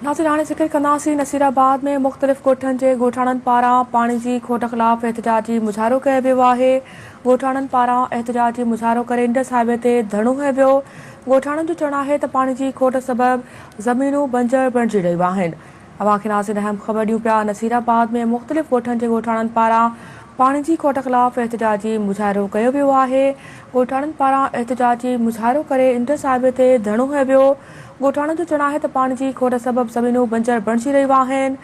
ناصر هاڻي ذڪر ڪنداسين نصير آباد ۾ مختلف ڳوٺن جي ڳوٺاڻن پاران پاڻي جي کوٽ خلاف احتجاجي مظاهرو ڪيو ويو آهي ڳوٺاڻن پاران احتجاجي مظاهرو ڪري انڊس هاء وي تي ڌرڻو هنيو ويو ڳوٺاڻن جو چوڻ آهي ته پاڻي جي کوٽ سبب زمينون بنجر بڻجي رهيون آهن اوهان کي ناظرين اهم خبر ڏيون پيا نصير آباد ۾ مختلف ڳوٺن جي ڳوٺاڻن پاران پاڻي جي کوٽ خلاف احتجاجي مظاهرو ڪيو ويو آهي ڳوٺاڻن پاران احتجاجي مظاهرو ڪري انڊس هاء وي تي ڌرڻو هنيو ويو ڳوٺاڻن جو چوڻ آهي ته پاڻي جي کوٽ سبب زمينون بنجر بڻجي رهيون آهن،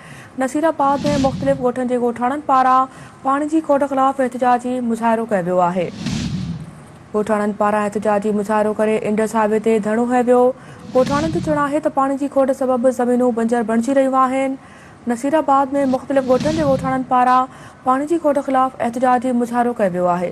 نصير آباد ۾ مختلف ڳوٺن جي ڳوٺاڻن پاران پاڻي جي کوٽ خلاف احتجاجي مظاهرو ڪيو ويو آهي، ڳوٺاڻن پاران احتجاجي مظاهرو ڪري انڊس هاء وي تي ڌرڻو هنيو ويو، ڳوٺاڻن جو چوڻ آهي ته پاڻي جي کوٽ سبب زمينون بنجر بڻجي رهيون آهن، نصير آباد ۾ مختلف ڳوٺن جي ڳوٺاڻن پاران پاڻي جي کوٽ خلاف احتجاجي مظاهرو ڪيو ويو آهي.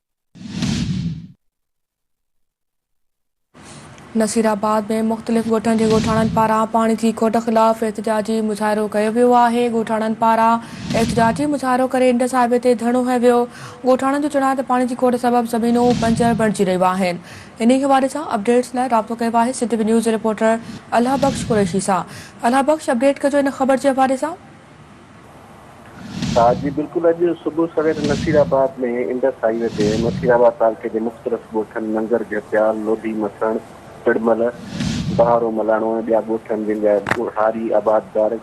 نصيرآباد ۾ مختلف ڳوٺن جي ڳوٺاڻن پاران پاڻي جي کوٽ خلاف احتجاجي مظاهرو ڪيو ويو آهي ڳوٺاڻن پاران احتجاجي مظاهرو ڪري انڊس هاء وي تي ڌرڻو هنيو ويو ڳوٺاڻن جو چوڻ آهي ته پاڻي جي کوٽ سبب زمينون بنجر بڻجي رهيون آهن انهي حوالي سان اپڊيٽس لاء رابطو ڪيو آهي سنڌ وي نيوز جي رپورٽر الهه بخش قريشي سان الهه بخش اپڊيٽ ڪجو ان خبر جي حوالي سان ها جي بلڪل اڄ صبح سوير Naseerabad ۾ Indus highway تي نصير آباد تعلقي جي مختلف ڳوٺن ننگر جهپيال، لوڌي مسڻ، پڙمل، بهارو ملاڻو ۽ ٻيا ڳوٺ آهن جن جا هاري آبادگار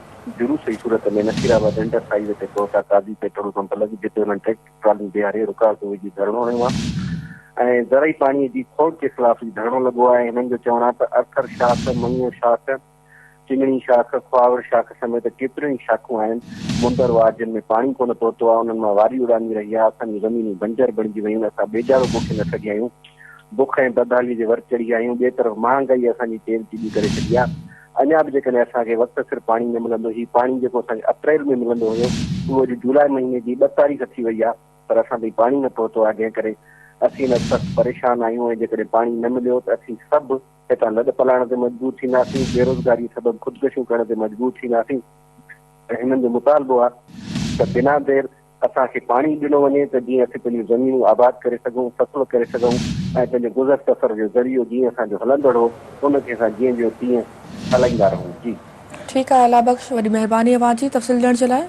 جلوس جي صورت ۾ Naseerabad Indus highway تي پهتا قاضي پيٽرول پمپ لڳ جتي انهن ٽريڪٽر ٽراليون بيهاري رڪاوٽون وجهي ڌرڻو هنيو آهي ۽ زرعي پاڻي جي کوٽ جي خلاف هي ڌرڻو لڳو آهي هنن جو چوڻ آهي ته ارٿر شاخ مڱيو شاخ چنگڻي شاخ، کهاوڙ شاخ سميت ڪيتريون ئي شاخون آهن. مندر وار جن ۾ پاڻي ڪونه پهتو آهي، انهن مان واري اڙامي رهي آهي. اسان جون زمينون بنجر بڻجي ويون، اسان ٻيجارو پوکي نه سگهيا آهيون. بک ۽ بدحاليء جي ور چڙهيا آهيون. ٻئي طرف مهانگائيء اسان جي تيل چيٻي ڪري ڇڏي آهي. اڃا به جيڪڏهن اسان کي وقت سر پاڻي نه ملندو، هي پاڻي جيڪو اسان کي اپريل ۾ ملندو هيو، اهو اڄ جولاء مهيني جي ٻه تاريخ ٿي وئي آهي، پر اسان تائين پاڻي نه پهتو آهي، جنهن ڪري اسين هن وقت سخت پريشان آهيون ۽ جيڪڏهن پاڻي نه مليو ته اسين سڀ هتان لڏ پلاڻ تي مجبور ٿينداسين، بيروزگاريء سبب خودڪشيون ڪرڻ تي مجبور ٿينداسين ۽ هنن جو مطالبو آهي ته بنا دير اسان کي پاڻي ڏنو وڃي ته جيئن اسين پنهنجون زمينون آباد ڪري سگهون، فصل ڪري سگهون ۽ پنهنجي گذر سفر جو ذريعو جيئن اسان جو هلندڙ هو ان کي اسان جيئن جو تيئن هلائيندا رهون. جي. ٺيڪ آهي الله بخش وڏي مهرباني اوهان جي تفصيل ڏيڻ جي لاء.